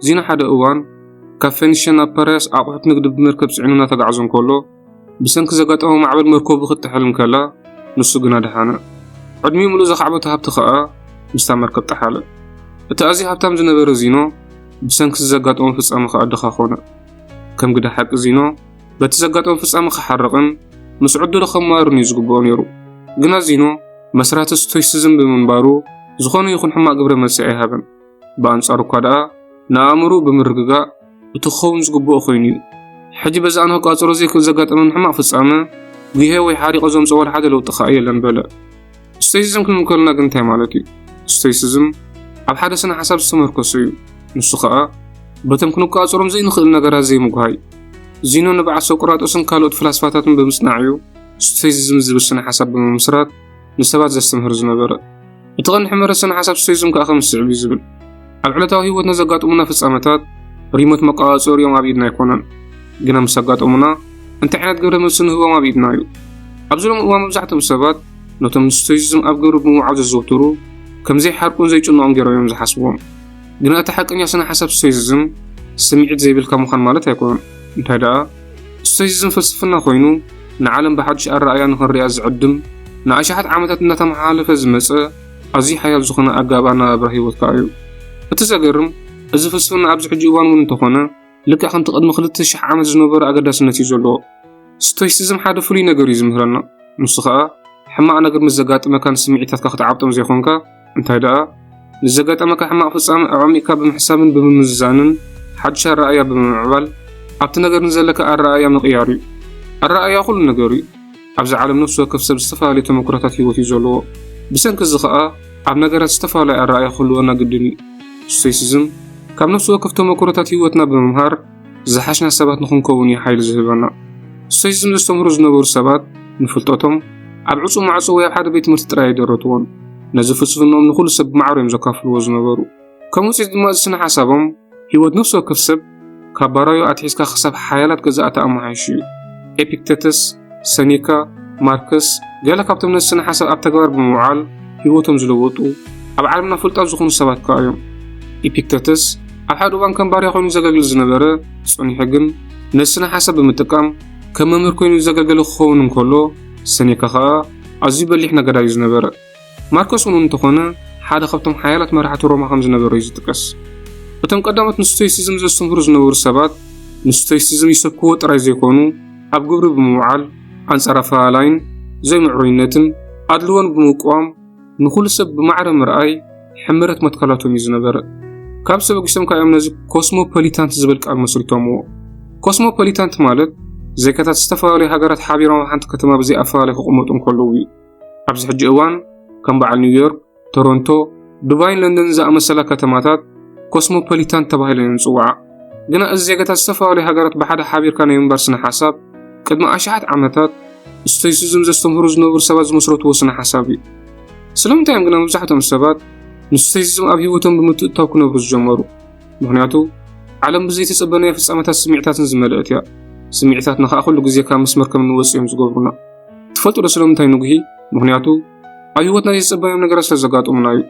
እዚ ንሓደ እዋን ካብ ፌኒሽያ ናብ ፓራያስ ኣቑሑት ንግዲ ብመርከብ ጽዒኑ እናተጓዕዘ እንከሎ ብሰንኪ ዘጋጠሞ ማዕበል መርከቡ ክትጥሕል እንከላ ንሱ ግና ደሓነ። ዕድሚኡ ምሉእ ዘኻዕበቶ ሃብቲ ከኣ ምስታ መርከብ ጠሓለ። እቲ ኣዝዩ ሃብታም ዝነበረ ዚኖ ብሰንኪ እዚ ዘጋጠሞ ፍጻመ ከኣ ድኻ ኮነ። ከም ግደ ሓቂ ዚኖ በቲ ዘጋጠሞ ፍጻመ ክሓርቕን ምስ ዕድሉ ከማርን እዩ ዝግብኦ ነይሩ። ግና ዚኖ መስራቲ ስቶይሲዝም ብምንባሩ ዝኾነ ይኹን ሕማቕ ግብረ መልሲ ኣይሃበን። ብኣንጻሩ እኳ ደኣ ንኣእምሮኡ ብምርግጋእ እቲ ክኸውን ዝግብኦ ኮይኑ እዩ። ሕጂ በዚ ኣነ ክቋጸሮ ዘይክእል ዘጋጠመኒ ሕማቕ ፍጻመ ጉሄ ወይ ሓሪቐ ዘምጽኦ ዋላ ሓደ ለውጢ ከኣ የለን በለ። ስቶይሲዝም ክንብል ከለና ግን እንታይ ማለት እዩ? ስቶይሲዝም ኣብ ሓደ ስነ ሓሳብ ዝተመርኮሰ እዩ። ንሱ ከኣ በቶም ክንቋጸሮም ዘይንኽእል ነገራት ዘይምጉሃይ ዚኖ ንብዓት ሶቅራጦስን ካልኦት ፍላስፋታትን ብምጽናዕ እዩ ስቶይሲዝም ዝብል ስነ ሓሳብ ብምምስራት ንሰባት ዘስተምህር ዝነበረ። እቲ ቐንዲ ሕመረት ስነ ሓሳብ ስቶይዝም ከኣ ከም ዝስዕብ እዩ ዝብል ኣብ ዕለታዊ ህይወትና ዘጋጥሙና ፍጻመታት ሪሞት መቆጻጸሪኦም ኣብ ኢድና ኣይኮነን ግና ምስ ኣጋጠሙና እንታይ ዓይነት ግብረ መልሲ ንህቦም ኣብ ኢድና እዩ ኣብዚ ሎሚ እዋን መብዛሕትኦም ሰባት ነቶም ንስቶይዝም ኣብ ግብሪ ብምውዓል ዘዘውትሩ ከም ዘይሓርቁን ዘይጭንቖም ገይሮም እዮም ዝሓስብዎም ግና እቲ ሓቀኛ ስነ ሓሳብ ስቶይዝም ስምዒት ዘይብልካ ምዃን ማለት ኣይኮነን እንታይ ደኣ ስቶይሲዝም ፍልስፍና ኮይኑ ንዓለም ብሓድሽ ኣረኣእያ ንኽንሪኣ ዝዕድም፣ ንኣሽሓት ዓመታት እናተመሓላለፈ ዝመጸ ኣዝዩ ሓያል ዝኾነ ኣገባብ ኣነባብራ ህይወት ከኣ እዩ። እቲ ዘገርም እዚ ፍልስፍና ኣብዚ ሕጂ እዋን እውን እንተኾነ ልክዕ ከምቲ ቅድሚ ክልተ ሽሕ ዓመት ዝነበሮ ኣገዳስነት እዩ ዘለዎ። ስቶይሲዝም ሓደ ፍሉይ ነገር እዩ ዝምህረና፣ ንሱ ከኣ ሕማቕ ነገር ምስ ዘጋጥመካ ንስምዒታትካ ክትዓብጦም ዘይኮንካ፣ እንታይ ደኣ፣ ምስ ዘጋጠመካ ሕማቕ ፍጻመ ኣዕሚቕካ ብምሕሳብን ብምምዝዛንን ሓድሽ ኣረኣእያ ብምምዕባል ኣብቲ ነገር ንዘለካ ኣረኣእያ ምቕያር እዩ። ኣረኣእያ ኩሉ ነገር እዩ። ኣብዚ ዓለም ነፍሲ ወከፍ ሰብ ዝተፈላለየ ተመክሮታት ህይወት እዩ ዘለዎ። ብሰንኪ እዚ ከኣ ኣብ ነገራት ዝተፈላለየ ኣረኣእያ ክህልወና ግድን እዩ። ስቶይሲዝም ካብ ነፍሲ ወከፍ ተመክሮታት ህይወትና ብምምሃር፣ ዝሓሽና ሰባት ንኽንከውን እዩ ሓይሊ ዝህበና። ስቶይሲዝም ዘስተምህሩ ዝነበሩ ሰባት ንፍልጠቶም ኣብ ዕጹው ማዕጾ ወይ ኣብ ሓደ ቤት ትምህርቲ ጥራይ ኣይደረትዎን። ነዚ ፍልስፍናኦም ንዅሉ ሰብ ብማዕሮ እዮም ዘካፍልዎ ዝነበሩ። ከም ውጽኢት ድማ እዚ ስነ ሓሳቦም ህይወት ነፍሲ ወከፍ ሰብ ካብ ባራዩ ኣትሒዝካ ክሳብ ሓያላት ገዛእቲ ኣመሓይሹ እዩ። ኤፒክተተስ ሰኔካ፣ ማርክስ፣ ገለ ካብቶም ነዚ ስነ ሓሳብ ኣብ ተግባር ብምውዓል ህይወቶም ዝለወጡ ኣብ ዓለምና ፍሉጣት ዝኾኑ ሰባት ከኣ እዮም። ኢፒክተተስ ኣብ ሓደ እዋን ከም ባርያ ኮይኑ ዘገልግል ዝነበረ ጸኒሑ ግን ነዚ ስነ ሓሳብ ብምጥቃም ከም መምህር ኮይኑ ዘገልገለ ክኸውን እንከሎ ሰኔካ ከኣ ኣዝዩ በሊሕ ነጋዳይ እዩ ዝነበረ። ማርከስ እውን እንተዀነ ሓደ ካብቶም ሓያላት መራሕቲ ሮማ ከም ዝነበረ እዩ ዝጥቀስ። እቶም ቀዳሞት ንስቶይሲዝም ዘስተምህሩ ዝነበሩ ሰባት ንስቶይሲዝም ይሰብክዎ ጥራይ ዘይኰኑ ኣብ ግብሪ ብምውዓል ኣንጻር ኣፈላላይን ዘይምዕሩይነትን ኣድልዎን ብምቅዋም ንዅሉ ሰብ ብማዕረ ምርኣይ ሕመረት መትከላቶም እዩ ዝነበረ። ካብ ሰበጊሶም ከኣ እዮም ነዚ ኮስሞፖሊታንት ዝብል ቃል መስሪቶምዎ። ኮስሞፖሊታንት ማለት ዜጋታት ዝተፈላለዩ ሃገራት ሓቢሮም ኣብ ሓንቲ ከተማ ብዘይ ኣፈላላይ ክቕመጡ እንከለዉ እዩ። ኣብዚ ሕጂ እዋን ከም በዓል ኒውዮርክ፣ ቶሮንቶ፣ ዱባይን ለንደንን ዝኣመሰላ ከተማታት ኮስሞፖሊታን ተባሂለን እየን ዝጽውዓ። ግና እዚ ዜጋታት ዝተፈላለዩ ሃገራት ብሓደ ሓቢርካ ናይ ምንባር ስነ ሓሳብ ቅድሚ ኣሽሓት ዓመታት ስቶይሲዝም ዘስተምህሩ ዝነብሩ ሰባት ዝመስረትዎ ስነ ሓሳብ እዩ። ስለምንታይ እዮም ግና መብዛሕትኦም ሰባት ንስቶይሲዝም ኣብ ህይወቶም ብምትእታው ክነብሩ ዝጀመሩ? ምክንያቱ ዓለም ብዘይተጸበናዮ ፍጻመታት ስምዒታትን ዝመልአት እያ። ስምዒታትና ከኣ ኩሉ ግዜ ካብ መስመር ከም እንወጽእ እዮም ዝገብሩና። ትፈልጡ ዶ ስለምንታይ ንጉሂ? ምኽንያቱ ኣብ ህይወትና ዘይተጸበናዮም ነገራት ስለ ዘጋጥሙና እዩ።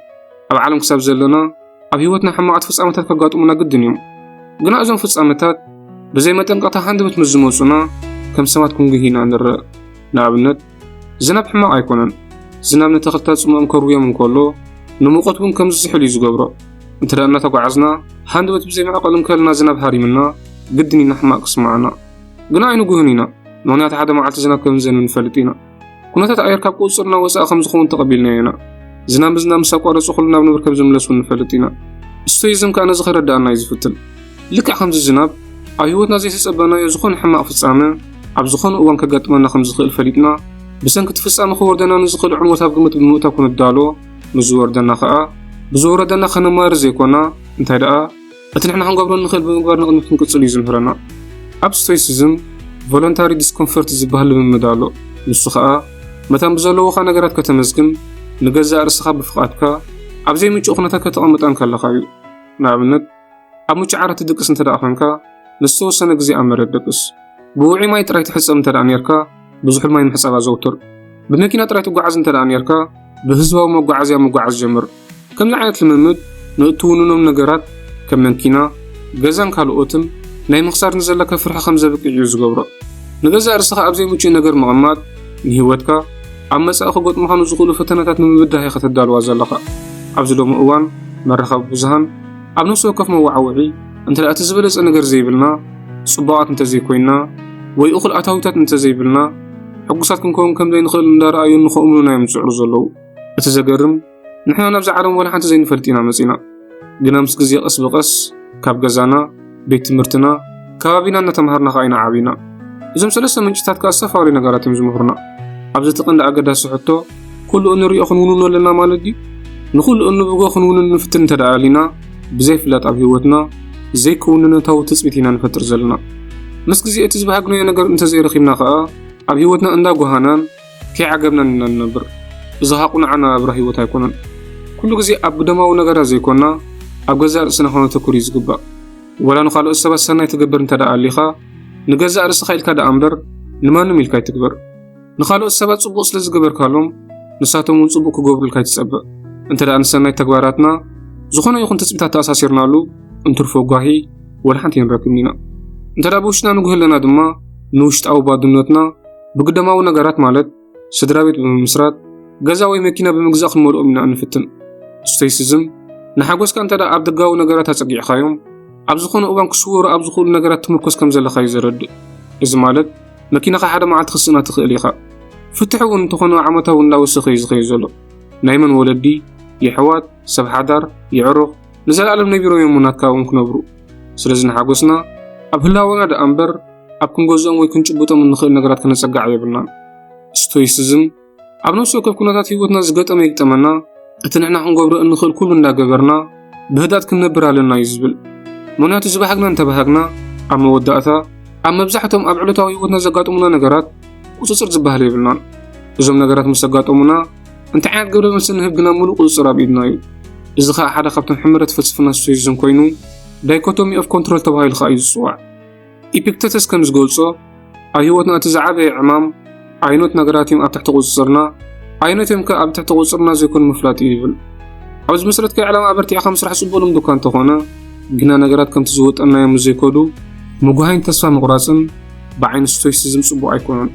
ኣብ ዓለም ክሳብ ዘለና ኣብ ህይወትና ሕማቓት ፍጻመታት ከጋጥሙና ግድን እዮም። ግና እዞም ፍጻመታት ብዘይ መጠንቀቕታ ሃንደበት ምስ ዝመጹና ከም ሰባት ክንጉሂ ኢና ንርእ። ንኣብነት ዝናብ ሕማቕ ኣይኮነን። ዝናብ ንተኽልታት ጽምኦም ከርውዮም እንከሎ ንሙቐት እውን ከም ዝዝሕል እዩ ዝገብሮ። እንተ እናተጓዓዝና ሃንደበት ብዘይ መዕቐሊ እንከለና ዝናብ ሃሪምና ግድን ኢና ሕማቕ ክስምዓና። ግና ኣይንጉህን ኢና፣ ምኽንያቱ ሓደ መዓልቲ ዝናብ ከም ዝዘንብ ንፈልጥ ኢና። ኩነታት ኣየር ካብ ቁጽጽርና ወጻኢ ከም ዝኸውን ተቐቢልናዮ ኢና። ዝናብ ምዝናብ ምስ ኣቋረጹ ኩሉ ናብ ንብር ከም ዝምለስ እውን ንፈልጥ ኢና። ስቶይዝም ከኣ ነዚ ከረድኣና እዩ ዝፍትን። ልክዕ ከምዚ ዝናብ፣ ኣብ ህይወትና ዘይተጸበናዮ ዝኾነ ሕማቕ ፍጻመ ኣብ ዝኾነ እዋን ከጋጥመና ከም ዝኽእል ፈሊጥና፣ ብሰንኪ እቲ ፍጻመ ክወርደና ንዝኽእል ዕንወት ኣብ ግምት ብምእታው ክንዳሎ፣ ንዝወርደና ከኣ ብዝወረደና ከነማርር ዘይኮና፣ እንታይ ደኣ፣ እቲ ንሕና ክንገብሮ እንኽእል ብምግባር ንቕድሚት ክንቅጽል እዩ ዝምህረና። ኣብ ስቶይሲዝም ቮለንታሪ ዲስኮምፈርት ዝበሃል ልምምድ ኣሎ፣ ንሱ ኸኣ መታን ብዘለዉኻ ነገራት ከተመስግን ንገዛእ ርእስኻ ብፍቓድካ ኣብ ዘይምቹእ ኩነታት ከተቐምጣ እንከለኻ እዩ። ንኣብነት ኣብ ምቹእ ዓራት ትድቅስ እንተደኣ ዄንካ ንዝተወሰነ ግዜ ኣብ መሬት ደቅስ። ብውዑይ ማይ ጥራይ ትሕጸብ እንተደኣ ኔርካ፣ ብዙሕ ማይ ምሕጻብ ኣዘውትር። ብመኪና ጥራይ ትጓዓዝ እንተ ኔርካ፣ ብህዝባዊ መጓዓዝያ ምጓዓዝ ጀምር። ከምዚ ዓይነት ልምምድ ንእትውንኖም ነገራት ከም መኪና፣ ገዛን ካልኦትን ናይ ምኽሳር ንዘለካ ፍርሒ ከም ዘብቅዕ እዩ ዝገብሮ። ንገዛእ ርእስኻ ኣብ ዘይምቹእ ነገር ምቕማጥ ንህይወትካ ኣብ መጻኢ ክገጥሙኻ ንዝኽእሉ ፈተነታት ንምብዳህ ኢኻ ተዳልዋ ዘለኻ። ኣብዚ ሎሚ እዋን መራኸቢ ብዙሃን ኣብ ነፍሲ ወከፍ መወዓውዒ እንተ እቲ ዝበለጸ ነገር ዘይብልና፣ ጽቡቓት እንተ ዘይኮይንና፣ ወይ እኹል ኣታዊታት እንተ ዘይብልና፣ ሕጉሳት ክንከውን ከም ዘይንኽእል እንዳረኣዩ ንኸእምኑና እዮም ዝጽዕሩ ዘለዉ። እቲ ዘገርም ንሕና ናብዛ ዓለም ዋላ ሓንቲ ዘይንፈልጥ ኢና መጺና። ግና ምስ ግዜ ቀስ ብቐስ ካብ ገዛና፣ ቤት ትምህርትና፣ ከባቢና እናተማሃርና ከኣ ኢና ዓቢና። እዞም ሰለስተ ምንጭታት ከኣ ዝተፈላለዩ ነገራት እዮም ዝምህሩና። ኣብዚ እቲ ቀንዲ ኣገዳሲ ሕቶ ኩሉ እንርእዮ ክንውንኖ ኣለና ማለት ድዩ? ንኹሉ እንብጎ ክንውንን ንፍትን እንተ ደኣ ኣሊና፣ ብዘይፍላጥ ኣብ ህይወትና ዘይክውንነታዊ ትጽቢት ኢና ንፈጥር ዘለና። ምስ ግዜ እቲ ዝበሃግናዮ ነገር እንተ ዘይረኺብና ከኣ፣ ኣብ ህይወትና እንዳ ጎሃናን ከይዓገብናን ኢና ንነብር። እዚ ከኣ ቅኑዕ ኣነባብራ ህይወት ኣይኮነን። ኩሉ ግዜ ኣብ ግደማዊ ነገራት ዘይኮና፣ ኣብ ገዛእ ርእስና ከነተኩር እዩ ዝግባእ። ወላ ንኻልኦት ሰባት ሰናይ ትገብር እንተ ደኣ ኣሊኻ፣ ንገዛእ ርእስኻ ኢልካ ደኣ እምበር ንማንም ኢልካ ኣይትግበር። ንኻልኦት ሰባት ጽቡቕ ስለ ዝገበርካሎም ንሳቶም እውን ጽቡቕ ክገብሩልካ ይትጸበእ እንተ ደኣ ንሰናይ ተግባራትና ዝኾነ ይኹን ትጽቢታት ተኣሳሲርናሉ እንትርፎ ጓሂ ወላ ሓንቲ ይንረክብን ኢና እንተ ደኣ ብውሽጥና ንጉህ ኣለና ድማ ንውሽጣዊ ባድነትና ብግደማዊ ነገራት ማለት ስድራ ቤት ብምምስራት ገዛ ወይ መኪና ብምግዛእ ክንመልኦም ኢና እንፍትን ስቶይሲዝም ንሓጎስካ እንተ ደኣ ኣብ ደጋዊ ነገራት ኣጸጊዕኻዮም ኣብ ዝኾነ እዋን ክስወሩ ኣብ ዝኽእሉ ነገራት ትምርኮስ ከም ዘለኻ እዩ ዘረድእ እዚ ማለት መኪናኻ ሓደ መዓልቲ ክትስእና ትኽእል ኢኻ። ፍትሒ እውን እንተኾነ ዓመታዊ እንዳወሰኸ እዩ ዝኸይድ ዘሎ። ናይ መን ወለዲ፣ የሕዋት፣ ሰብ ሓዳር፣ የዕሩኽ ንዘለኣለም ነቢሮም እዮም ሙናት ካብኦም ክነብሩ። ስለዚ ንሓጎስና ኣብ ህላወና ደኣ እምበር ኣብ ክንገዝኦም ወይ ክንጭብጦም እንኽእል ነገራት ከነጸግዕ የብልናን። ስቶይስዝም ኣብ ነፍሲ ወከፍ ኩነታት ህይወትና ዝገጠመ ይግጠመና እቲ ንሕና ክንገብሮ እንኽእል ኩሉ እንዳገበርና ብህዳት ክንነብር ኣለና እዩ ዝብል ምክንያቱ ዝበሃግና እንተበሃግና ኣብ መወዳእታ ኣብ መብዛሕቶም ኣብ ዕለታዊ ህይወትና ዘጋጥሙና ነገራት ቁፅፅር ዝበሃል የብልናን እዞም ነገራት ምስ ኣጋጠሙና እንታይ ዓይነት ግብረ መልሲ ንህብ ግና ሙሉእ ቁፅፅር ኣብ ኢድና እዩ እዚ ከዓ ሓደ ካብቶም ሕመረት ፍልስፍና ስቶይዝም ኮይኑ ዳይኮቶሚ ኦፍ ኮንትሮል ተባሂሉ ከዓ እዩ ዝፅዋዕ ኢፒክተተስ ከም ዝገልጾ ኣብ ህይወትና እቲ ዝዓበየ ዕማም ኣይኖት ነገራት እዮም ኣብ ትሕቲ ቁጽጽርና ኣይኖት እዮም ከ ኣብ ትሕቲ ቁጽጽርና ዘይኮኑ ምፍላጥ እዩ ይብል ኣብዚ መሰረት ከ ዕላማ ኣበርቲዕካ ምስራሕ ጽቡቅ ልምዲ እኳ እንተኾነ ግና ነገራት ከምቲ ዝወጠናዮ ምስ ዘይከዱ ምጉሃይን ተስፋ ምቑራጽን ብዓይኒ ስቶይሲዝም ጽቡቕ ኣይኮነን።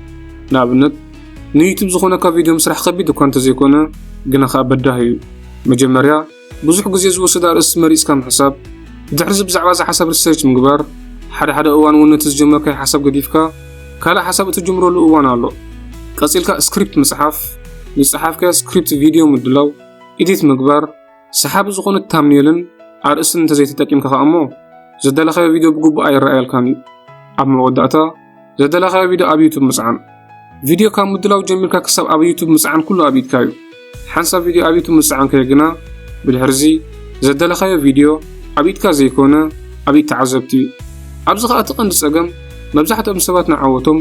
ንኣብነት ንዩቱብ ዝኾነካ ቪድዮ ምስራሕ ከቢድ እኳ እንተዘይኮነ ግና ከኣ በዳሂ እዩ። መጀመርያ ብዙሕ ግዜ ዝወስድ ኣርእስቲ መሪጽካ ምሕሳብ፣ ድሕርዚ ብዛዕባ እዛ ሓሳብ ሪሰርች ምግባር፣ ሓደ ሓደ እዋን እውን ነቲ ዝጀመርካዮ ሓሳብ ገዲፍካ ካልእ ሓሳብ እትጅምረሉ እዋን ኣሎ፣ ቀጺልካ ስክሪፕት ምጽሓፍ፣ ዝጸሓፍካዮ ስክሪፕት ቪድዮ ምድላው፣ ኤዲት ምግባር፣ ሰሓቢ ዝኾነት ታምኔልን ኣርእስትን እንተዘይተጠቂምካ ከኣ'ሞ ዘዳለኻዮ ቪድዮ ብግቡእ ኣይረኣየልካን እዩ። ኣብ መወዳእታ። ዘደለኻዮ ቪድዮ ኣብ ዩቱብ ምጽዓን። ቪድዮ ካብ ምድላው ጀሚርካ ክሳብ ኣብ ዩቱብ ምጽዓን ኩሉ ኣብ ኢድካ እዩ። ሓንሳብ ቪድዮ ኣብ ዩቱብ ምስዓንካዮ ግና ብድሕርዚ ዘደለኻዮ ቪድዮ ኣብ ኢድካ ዘይኮነ ኣብ ኢድ ተዓዘብቲ እዩ። ኣብዚ ከኣ እቲ ቀንዲ ጸገም መብዛሕትኦም ሰባት ንዓወቶም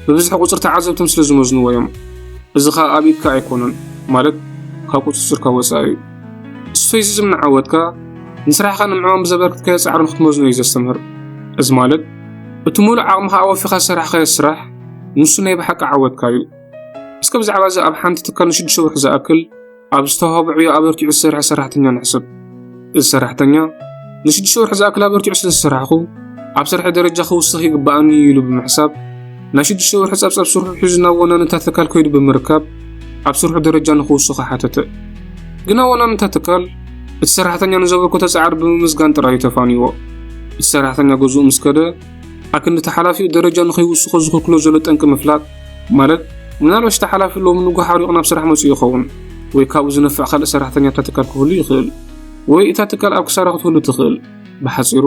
ብብዝሒ ቁጽሪ ተዓዘብቶም ስለ ዝመዝንዎ እዮም። እዚ ከኣ ኣብ ኢድካ ኣይኮነን ማለት ካብ ቁጽጽርካ ወጻኢ እዩ። ስቶይሲዝም ንዓወትካ ንስራሕካ ንምዕማም ብዘበርክትካዮ ጻዕሪ ንክትመዝኖ እዩ ዘስተምህር። እዚ ማለት እቲ ሙሉእ ዓቕምኻ ኣወፊኻ ዝሰራሕኻዮ ስራሕ ንሱ ናይ ብሓቂ ዓወትካ እዩ። እስከ ብዛዕባ እዚ ኣብ ሓንቲ ትካል ንሽዱሽተ ወርሒ ዝኣክል ኣብ ዝተዋህቦ ዕዮ ኣበርቲዑ ዝሰርሐ ሰራሕተኛ ንሕሰብ። እዚ ሰራሕተኛ ንሽዱሽተ ወርሒ ዝኣክል ኣበርቲዑ ስለ ዝሰራሕኹ ኣብ ስርሐይ ደረጃ ክውስኽ ይግባኣኒ እዩ ኢሉ ብምሕሳብ ናይ ሽዱሽተ ወርሒ ጸብጻብ ስርሑ ሒዙ ናብ ወናንታ ትካል ከይዱ ብምርካብ ኣብ ስርሑ ደረጃ ንኽውስኾ ሓተተ። ግና ወናንታ ትካል እቲ ሰራሕተኛ ንዘበርከቶ ጻዕሪ ብምምስጋን ጥራይ እዩ ተፋንይዎ። እቲ ሰራሕተኛ ገዝኡ ምስ ከደ፣ ኣክንዲ እቲ ሓላፊኡ ደረጃ ንኸይውስኾ ዝኽልክሎ ዘሎ ጠንቂ ምፍላጥ፣ ማለት ምናልባሽ እቲ ሓላፊ ሎሚ ንግሆ ሓሪቑ ናብ ስራሕ መጺኡ ይኸውን፣ ወይ ካብኡ ዝነፍዕ ካልእ ሰራሕተኛ ኣብታ ትካል ክህሉ ይኽእል፣ ወይ እታ ትካል ኣብ ክሳራ ክትህሉ ትኽእል። ብሓጺሩ፣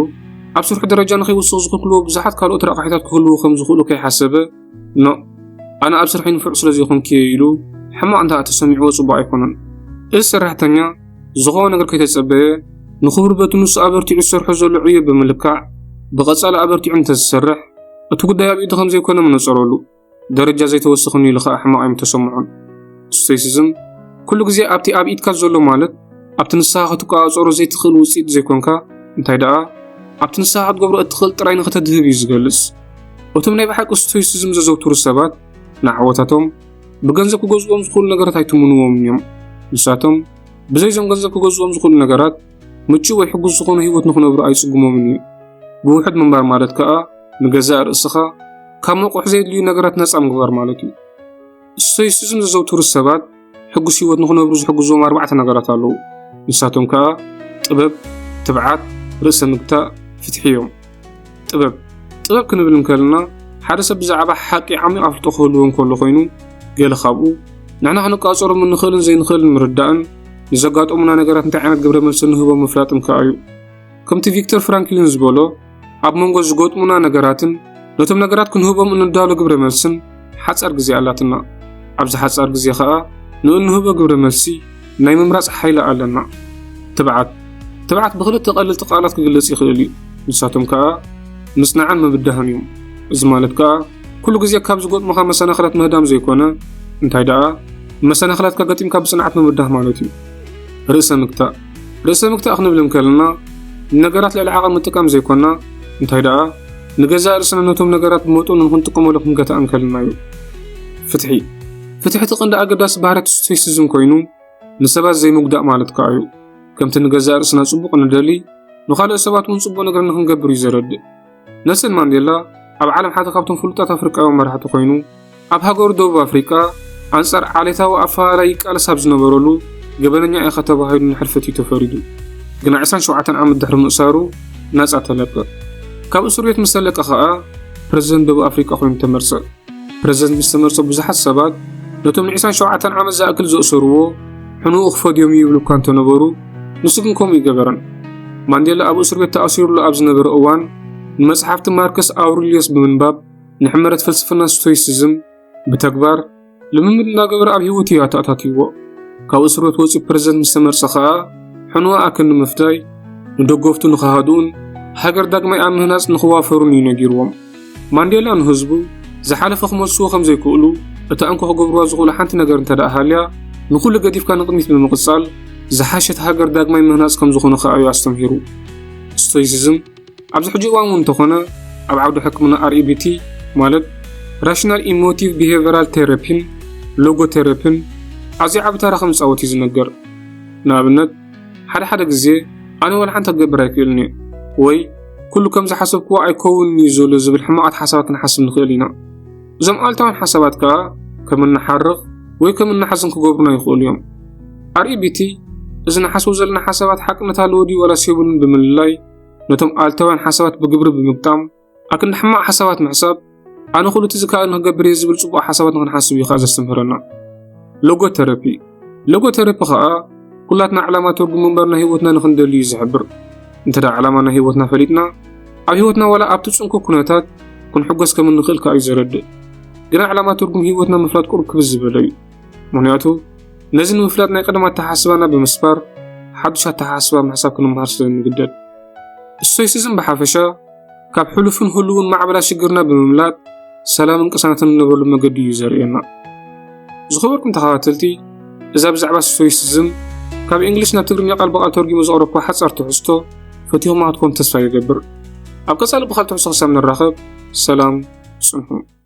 ኣብ ስርሑ ደረጃ ንኸይውስኽ ዝኽልክልዎ ብዙሓት ካልኦት ረቛሒታት ክህልዉ ከም ዝኽእሉ ከይሓሰበ፣ ኖእ ኣነ ኣብ ስርሐይ ንፉዕ ስለ ዘይኮንኩ እየ ኢሉ ሕማቕ እንተ ተሰሚዕዎ ጽቡቕ ኣይኮነን። እዚ ሰራሕተኛ ዝኾነ ነገር ከይተጸበየ ንኽብሪ በቲ ንሱ ኣበርቲዑ ዝሰርሖ ዘሎ ዕዮ ብምልካዕ ብቐጻሊ ኣበርቲዑ እንተዝሰርሕ እቲ ጉዳይ ኣብ ኢዱ ከም ዘይኮነ ምነጸረሉ ደረጃ ዘይተወሰኽኒ ኢሉ ኸኣ ሕማቕ ኣይምተሰምዖን። ስቶይሲዝም ኩሉ ግዜ ኣብቲ ኣብ ኢድካ ዘሎ ማለት ኣብቲ ንስኻ ክትቆጻጸሮ ዘይትኽእል ውጽኢት ዘይኮንካ፣ እንታይ ደኣ ኣብቲ ንስኻ ክትገብሮ እትኽእል ጥራይ ንኽተድህብ እዩ ዝገልጽ። እቶም ናይ ብሓቂ ስቶይሲዝም ዘዘውትሩ ሰባት ንዓወታቶም ብገንዘብ ክገዝእዎም ዝኽእሉ ነገራት ኣይትምንዎምን እዮም። ንሳቶም ብዘይ እዞም ገንዘብ ክገዝእዎም ዝኽእሉ ነገራት ምቹእ ወይ ሕጉስ ዝኾነ ህይወት ንኽነብሩ ኣይጽግሞምን እዩ። ብውሑድ ምንባር ማለት ከኣ ንገዛእ ርእስኻ ካብ መቑሕ ዘየድልዩ ነገራት ነጻ ምግባር ማለት እዩ። ስቶይሲዝም ዘዘውትሩ ሰባት ሕጉስ ህይወት ንኽነብሩ ዝሕግዝዎም ኣርባዕተ ነገራት ኣለዉ። ንሳቶም ከኣ ጥበብ፣ ትብዓት፣ ርእሰ ምግታእ፣ ፍትሒ እዮም። ጥበብ ጥበብ ክንብል እንከለና ሓደ ሰብ ብዛዕባ ሓቂ ዓሚቕ ኣፍልጦ ክህልዎ እንከሎ ኮይኑ ገለ ካብኡ ንሕና ክንቃጸሮም እንኽእልን ዘይንኽእልን ምርዳእን ንዘጋጠሙና ነገራት እንታይ ዓይነት ግብረ መልሲ ንህቦ ምፍላጥን ከኣ እዩ። ከምቲ ቪክተር ፍራንክሊን ዝበሎ ኣብ መንጎ ዝገጥሙና ነገራትን ነቶም ነገራት ክንህቦም እንዳሎ ግብረ መልስን ሓጻር ግዜ ኣላትና። ኣብዚ ሓጻር ግዜ ኸኣ ንእንህቦ ግብረ መልሲ ናይ ምምራጽ ሓይሊ ኣለና። ትብዓት ትብዓት ብኽልተ ቀለልቲ ቃላት ክግለጽ ይኽእል እዩ። ንሳቶም ከኣ ምጽናዕን ምብዳህን እዮም። እዚ ማለት ከኣ ኩሉ ግዜ ካብ ዝገጥሙኻ መሰናኽላት ምህዳም ዘይኮነ እንታይ ደኣ መሰናኽላትካ ገጢምካ ብጽንዓት ምብዳህ ማለት እዩ። ርእሰ ምግታእ ርእሰ ምክታእ ክንብል እንከለና ንነገራት ልዕሊ ዓቐን ምጥቃም ዘይኮና እንታይ ደኣ ንገዛእ ርእስና ነቶም ነገራት ብመጠኑ ንክንጥቀመሉ ክንገታእ እንከለና እዩ። ፍትሒ ፍትሒ እቲ ቀንዲ ኣገዳሲ ባህርያት ስቶይሲዝም ኮይኑ ንሰባት ዘይምጉዳእ ማለት ከኣ እዩ። ከምቲ ንገዛእ ርእስና ጽቡቕ ንደሊ ንኻልኦት ሰባት እውን ጽቡቕ ነገር ንክንገብር እዩ ዘረድእ። ነልሰን ማንዴላ ኣብ ዓለም ሓደ ካብቶም ፍሉጣት ኣፍሪቃውያን መራሕቲ ኮይኑ ኣብ ሃገሩ ደቡብ ኣፍሪቃ ኣንጻር ዓሌታዊ ኣፈላላይ ይቃለስ ኣብ ዝነበረሉ ገበነኛ ኢኻ ተባሂሉ ንሕልፈት እዩ ተፈሪዱ። ግና 27 ዓመት ድሕሪ ምእሳሩ ናጻ ተለቀ። ካብ እስር ቤት ምስ ተለቀ ከኣ ፕረዚደንት ደቡብ ኣፍሪቃ ኮይኑ ተመርጸ። ፕረዚደንት ምስ ተመርጸ ብዙሓት ሰባት ነቶም ንዒስራን ሸውዓተን ዓመት ዝኣክል ዘእሰርዎ ሕኑኡ ክፈድዮም እዩ ይብሉ እኳ እንተነበሩ ንሱ ግን ከምኡ ይገበረን። ማንዴላ ኣብ እስር ቤት ተኣሲሩሉ ኣብ ዝነበረ እዋን ንመጽሓፍቲ ማርከስ ኣውሪልዮስ ብምንባብ ንሕመረት ፍልስፍና ስቶይሲዝም ብተግባር ልምምድ እናገበረ ኣብ ህይወቱ እዩ ኣተኣታትይዎ። ካብ እስር ቤት ወጺኡ ፕረዚደንት ምስ ተመርጸ ከኣ ሕኑኡ ኣክን ንምፍዳይ ንደገፍቱ ንኽሃድኡን ሃገር ዳግማይ ኣብ ምህናጽ ንኽዋፈሩን እዩ ነጊርዎም። ማንዴላ ንህዝቡ፣ ዝሓለፈ ክመልስዎ ከም ዘይክእሉ፣ እታ እንኮ ክገብርዋ ዝኽእሉ ሓንቲ ነገር እንተድኣ ሃልያ፣ ንኹሉ ገዲፍካ ንቕድሚት ብምቕጻል፣ ዝሓሸት ሃገር ዳግማይ ምህናጽ ከም ዝኾነ ከኣ እዩ ኣስተምሂሩ። ስቶይሲዝም፣ ኣብዚ ሕጂ እዋን እውን እንተኾነ ኣብ ዓውዲ ሕክምና REBT፣ ማለት ራሽናል ኢሞቲቭ ቢሄቨራል ቴረፒን ሎጎ ቴረፒን፣ ኣዝዩ ዓቢ ተራ ከም ዝጻወት እዩ ዝነገር። ንኣብነት፣ ሓደ ሓደ ግዜ ኣነ ወልሓንቲ ክገብር ኣይክእልን እየ ወይ ኩሉ ከም ዝሓሰብክዎ ኣይከውንን እዩ ዘሎ ዝብል ሕማቓት ሓሳባት ክንሓስብ ንኽእል ኢና። እዞም ኣልታውያን ሓሳባት ከኣ ከም እንሓርቕ ወይ ከም እንሓዝን ክገብሩና ይኽእሉ እዮም። ኣርኢቢቲ እዚ ንሓስቦ ዘለና ሓሳባት ሓቅነት ኣለዎ ድዩ ዋላስ የብሉን ብምልላይ ነቶም ኣልታውያን ሓሳባት ብግብሪ ብምግጣም ኣክንዲ ሕማቕ ሓሳባት ምሕሳብ ኣነ ኩሉ እቲ ዝከኣል ንክገብር እየ ዝብል ፅቡቕ ሓሳባት ንክንሓስብ እዩ ከዓ ዘስተምህረና ሎጎተረፒ ሎጎተረፒ ከዓ ኩላትና ዕላማ ትርጉም ምንባር ናይ ህይወትና ንክንደልዩ እዩ ዝሕብር እንተ ዕላማ ናይ ህይወትና ፈሊጥና ኣብ ህይወትና ዋላ ኣብቲ ፅንኩ ኩነታት ክንሕጎስ ከም እንኽእል ከዓ እዩ ዘረድእ ግና ዕላማ ትርጉም ህይወትና ምፍላጥ ቁርብ ክብዝ ዝበለ እዩ ምክንያቱ ነዚ ንምፍላጥ ናይ ቀደም ኣተሓስባና ብምስባር ሓዱሽ ኣተሓስባ ምሕሳብ ክንምሃር ስለ እንግደድ እሶይስዝም ብሓፈሻ ካብ ሕሉፍን ህሉውን ማዕበላ ሽግርና ብምምላጥ ሰላምን ቅሳነትን እንነበሉ መገዲ እዩ ዘርእየና። ዝኸበርኩም ተኸታተልቲ እዛ ብዛዕባ ስቶይሲዝም ካብ እንግሊሽ ናብ ትግርኛ ቃል ብቓል ተርጊሙ ዘቕረብኩ ሓጻር ትሕዝቶ ፈቲኹማ ክትኮኑ ተስፋ ይገብር። ኣብ ቀጻሊ ብኻልእ ትሕዝቶ ክሳብ ንራኸብ ሰላም ጽንሑ።